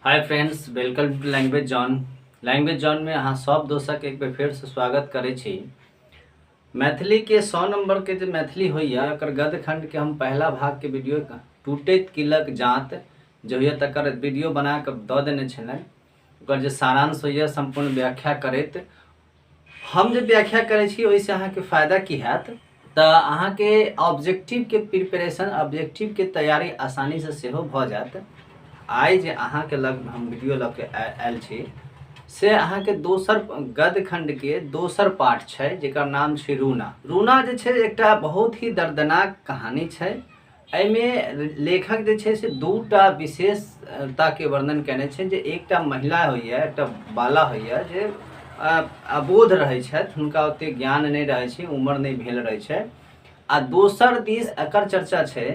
hi friends welcome to language zone language zone में अहाँ सब दोस्तक एक बेर फेरसँ स्वागत करै छी मैथिलीके सौ नम्बरके जे मैथिली होइए ओकर गद्यखण्डके हम पहिला भागके वीडियो टूटैत किलक जाँत जे होइए तकर वीडियो बना कऽ दऽ देने छलहुँ ओकर जे सारांश होइए सम्पूर्ण व्याख्या करैत हम जे व्याख्या करै छी ओहिसँ अहाँके फायदा की हैत तऽ अहाँके ऑब्जेक्टिवके प्रिपरेशन ऑब्जेक्टिवके तैयारी आसानीसँ सेहो भऽ जायत आइ जे अहाँके लग हम वीडियो लऽ के आ- आयल छी से अहाँके दोसर गद्य खंडके दोसर पाठ छै जेकर नाम छै रूना रूना जे छै एकटा बहुत ही दर्दनाक कहानी छै एहिमे लेखक जे छै से दूटा विशेषताके वर्णन कयने छै जे एकटा महिला होइए एकटा बाला होइए जे अबोध रहैत छथि हुनका ओतेक ज्ञान नहि रहैत छै उम्र नहि भेल रहैत छै आ दोसर दिस एकर चर्चा छै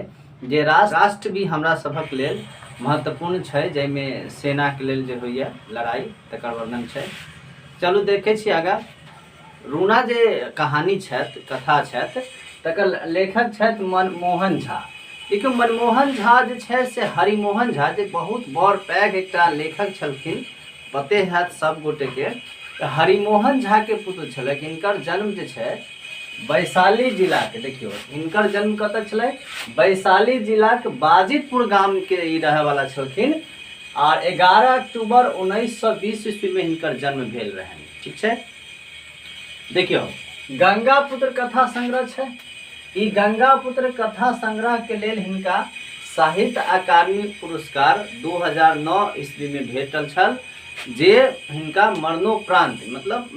जे राष्ट्र भी हमरा सभक लेल महत्वपूर्ण छै जाहिमे सेनाके लेल जे होइए लड़ाइ तकर वर्णन छै चलू देखै छी आगाँ रूना जे कहानी छथि कथा छथि तकर लेखक छथि मनमोहन झा लेकिन मनमोहन झा जे छथि से हरिमोहन झा जे बहुत बड़ पैघ एकटा लेखक छलखिन पते हैत सब गोटे के तऽ हरिमोहन झा के पुत्र छलै इनकर जन्म जे छै वैशाली जिला के देखियो इनकर जन्म कत छलै वैशाली जिला के बाजितपुर गाम के ई रहे वाला छलखिन आर एगारह अक्टूबर उन्नैस सए बीस ईस्वी में इनकर जन्म भेल रहनि ठीक छै देखियौ गंगा पुत्र कथा संग्रह छै ई गंगा पुत्र कथा संग्रह के लेल हिनका साहित्य अकादमी पुरस्कार 2009 ईस्वी में भेटल छल जे हिनका मरणोपरांत मतलब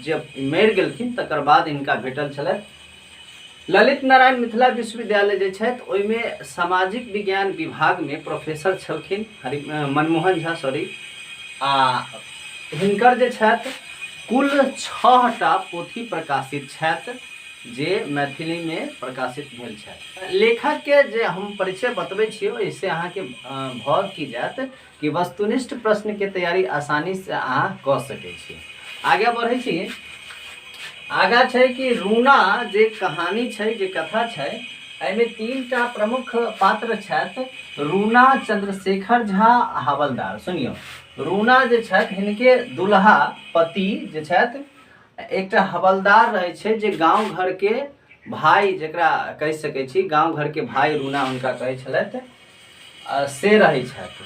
जे मरि गेलखिन तकर बाद हिनका भेटल छलथि ललित नारायण मिथिला विश्वविद्यालय जे छथि ओहिमे सामाजिक विज्ञान विभागमे प्रोफेसर छलखिन हरि मनमोहन झा सॉरी आ हिनकर जे छथि कुल छहटा पोथी प्रकाशित छथि जे मैथिलीमे प्रकाशित भेल छथि लेखकके जे हम परिचय बतबै छी ओहिसँ अहाँके भऽ की जायत कि वस्तुनिष्ठ प्रश्न के तैयारी आसानी से अहाँ कऽ सकै छी आगे बढ़ै छी आगा छै कि रूना जे कहानी छै जे कथा छै एहिमे तीन टा प्रमुख पात्र छथि रूना चंद्रशेखर झा आ हवलदार सुनियौ रूना जे छथि हिनके दुल्हा पति जे छथि एकटा हवलदार रहै छै जे गाँव घरके भाय जकरा कहि सकै छी गाँव घरके भाय रूना हुनका कहै छलथि से रहै छथि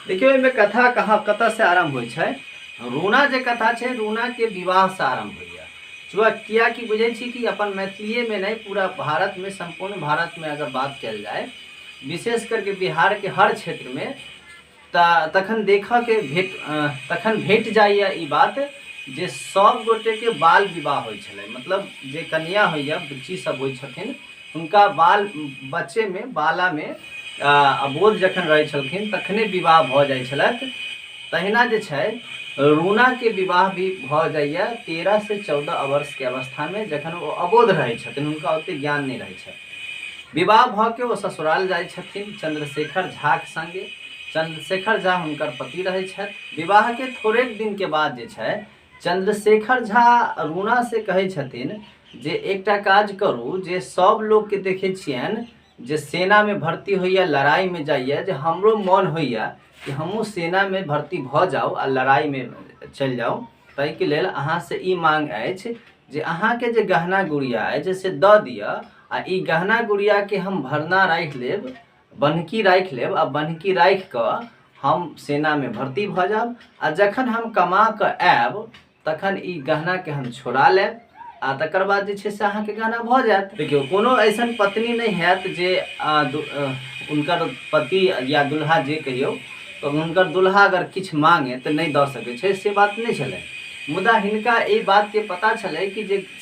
देखियौ एहिमे कथा कहाँ कतऽसँ आरम्भ होइ छै रोना जे कथा छै रोनाके विवाहसँ आरम्भ होइए चुआ किएकि बुझै छी कि अपन मैथिलिएमे नहि पूरा भारतमे सम्पूर्ण भारतमे अगर बात कयल जाय विशेष करके बिहारके हर क्षेत्रमे तऽ तखन देखऽके भेट तखन भेट जाइए ई बात जे सभ गोटेके बाल विवाह होइ छलै मतलब जे कनिया होइए बुच्ची सभ होइ छथिन हुनका बाल बच्चेमे बालामे आ, अबोध जखन रहै छलखिन तखने विवाह भऽ जाइ छलथि तहिना जे छै रूनाके विवाह भी भऽ जाइए तेरह से चौदह वर्षके अवस्थामे जखन ओ अबोध रहै छथिन हुनका ओतेक ज्ञान नहि रहै छनि विवाह भऽ के ओ ससुराल जाइ छथिन चंद्रशेखर झाक संगे चंद्रशेखर झा हुनकर पति रहै छथि विवाहके थोड़ेक दिनके बाद जे छै चंद्रशेखर झा रूना से कहै छथिन जे एकटा काज करू जे सब लोग के देखे छियन जे सेना में भर्ती होइया लड़ाई में जाइया जे हमरो मन होइया कि हमहूँ सेना में भर्ती भऽ जाउ आ लड़ाई में चलि जाउ ताहिके लेल अहाँ से ई मांग अछि जे अहाँके जे गहना गुड़िया अछि से दऽ दिअ आ ई गहना गुड़िया के हम भरना राखि लेब बन्हकी राखि लेब आ बन्हकी राखि कऽ हम सेनामे भर्ती भऽ जायब आ जखन हम कमा कऽ आयब तखन ई गहनाके हम छोड़ा लेब आ तकर बाद जे छै से अहाँके गहना भऽ जायत देखियौ कोनो ऐसन पत्नी नहि हैत जे आ, दु- अ, हुनकर पति या दुल्हा जे कहियौ तऽ हुनकर दुल्हा अगर किछु मांगे तऽ नहि दऽ सकै छै से बात नहि छलै मुदा हिनका एहि बातके पता छलै कि जे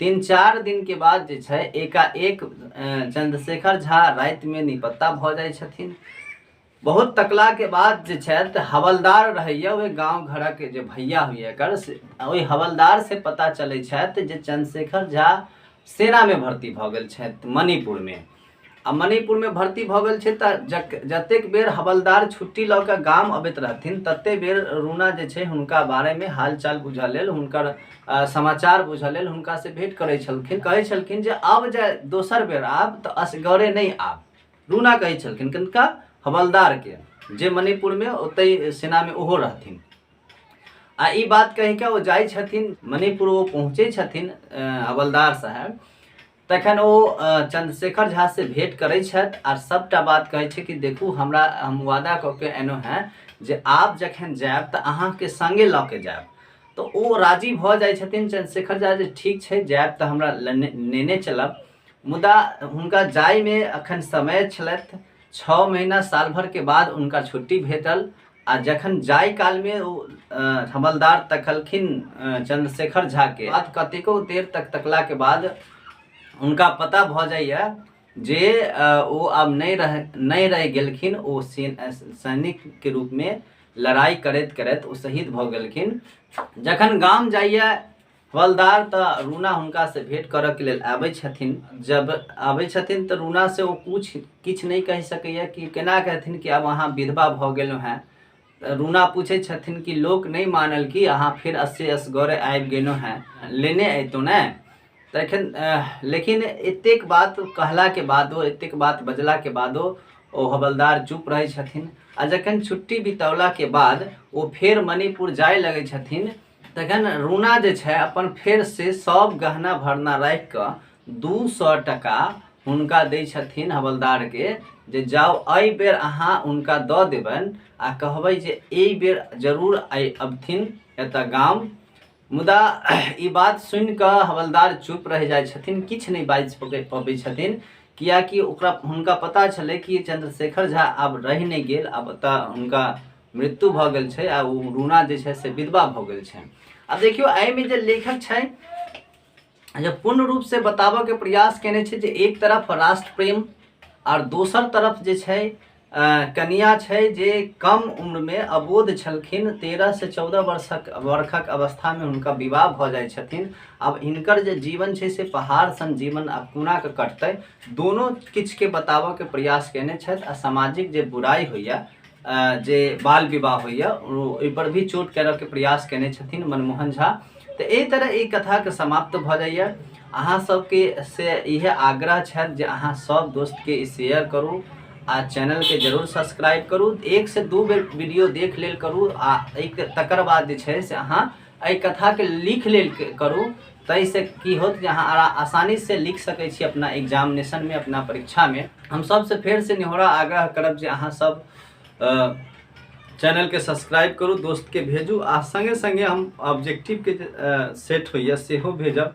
तीन चारि दिनके बाद जे छै एकाएक चंद्रशेखर झा रातिमे निपत्ता भऽ जाइ छथिन बहुत तकलाके बाद जे छथि हवलदार रहैए ओहि गाँव घरक जे भैया होइए एकर से ओहि हवलदार से पता चलै छथि जे चंद्रशेखर झा सेनामे भर्ती भऽ गेल छथि मणिपुरमे आ मणिपुरमे भर्ती भऽ गेल छै तऽ जक जतेक बेर हवलदार छुट्टी लऽ कऽ गाम अबैत रहथिन ततेक बेर रूना जे छै हुनका बारेमे हालचाल बुझऽ लेल हुनकर अ, समाचार बुझऽ लेल हुनकासँ भेँट करै छलखिन कहै छलखिन जे आब जे दोसर बेर आब तऽ असगरे नहि आब रूना कहै छलखिन किनका हवलदारके जे मणिपुरमे ओतहि सेनामे ओहो रहथिन आ ई बात कहि कऽ ओ जाइ छथिन मणिपुर ओ पहुँचै छथिन अ, हवलदार साहब तखन ओ चंद्रशेखर झा से भेंट करे छथि आर सबटा बात कहे छै कि देखू हमरा हम वादा कऽ के एनो हैं जे आप जखन जायब तऽ अहाँ के संगे लऽ के जायब तो ओ राजी भऽ जाइ छथिन चंद्रशेखर झा जे ठीक छै जायब तऽ हमरा नेने चलब मुदा हुनका जायमे अखन समय छलथि छओ महीना साल भर के बाद हुनका छुट्टी भेटल आ जखन जाय कालमे ओ हवलदार तकलखिन चंद्रशेखर झाके बाद कतेको देर तक तकलाके बाद हुनका पता भऽ जाइए जे ओ आब नहि रह नहि रहि गेलखिन ओ सैनिकके रूपमे लड़ाइ करैत करैत ओ शहीद भऽ गेलखिन जखन गाम जाइए हवलदार तऽ रूना हुनका से भेंट करऽ के लेल आबै छथिन जब आबै छथिन तऽ रूना से ओ कुछ किछु नहि कहि सकैया कि केना कहथिन कि आब अहाँ विधवा भऽ गेलहुँ हेँ तऽ रूना पूछै छथिन कि लोक नहि मानल कि अहाँ फेर अस्से असगरे आबि गेलहुँ हेँ लेने अयतहुँ ने तऽ एखन अह, लेकिन एतेक बात कहलाके बादो एतेक बात बजलाके बादो ओ हवलदार चुप रहै छथिन आ जखन छुट्टी बितौलाके बाद ओ फेर मणिपुर जाय लगै छथिन तखन रूना जे छै अपन फेर से सब गहना भरना राखि कऽ दू सए टका हुनका दै छथिन हवलदारके जे जाउ एहि बेर अहाँ हुनका दऽ देबनि आ कहबै जे एहि बेर जरूर आइ अबथिन एतऽ गाम मुदा ई बात सुनि कऽ हवलदार चुप रहि जाइ छथिन किछु नहि बाजि पकै- पबै छथिन कियाकि ओकरा हुनका पता छलै कि चंद्रशेखर झा आब रहि नहि गेल आब ओतऽ हुनका मृत्यु भऽ गेल छै आ ओ रूना जे छै से विधवा भऽ गेल छै आब देखियौ एहिमे जे लेखक छै जे पूर्ण रूपसँ बताबऽके प्रयास केने छै जे एक तरफ राष्ट्र प्रेम आर दोसर तरफ जे छै कनिया छै जे कम उम्रमे अबोध छलखिन तेरह से चौदह वर्षक वर्षक अवस्थामे हुनका विवाह भऽ जाइ छथिन आब हिनकर जे जीवन छै से पहाड़ सन जीवन आब कोनाके कटतै दोनो किछुके बताबऽके प्रयास केने छथि आ सामाजिक जे बुराइ होइए जे बाल विवाह होइए ओहिपर भी चोट करऽके प्रयास कयने छथिन मनमोहन झा तऽ एहि तरह ई कथाके समाप्त भऽ जाइए अहाँ सबके से इहे आग्रह छथि जे अहाँ सब दोस्तके ई शेयर करू आ चैनलके जरूर सब्सक्राइब करू एक से दू बेर वीडियो देख लेल करू आ एहिके तकर बाद जे छै से अहाँ एहि कथाके लिख लेल करू ताहिसँ की होत जे अहाँ आरा- आसानीसँ लिख सकै छी अपना एग्जामिनेशनमे अपना परीक्षामे हम सबसँ फेरसँ निहोरा आग्रह करब जे अहाँ सब अ, चैनलके सब्सक्राइब करू दोस्तके भेजू आ सङ्गे सङ्गे हम ऑब्जेक्टिवके जे अ, सेट होइए सेहो भेजब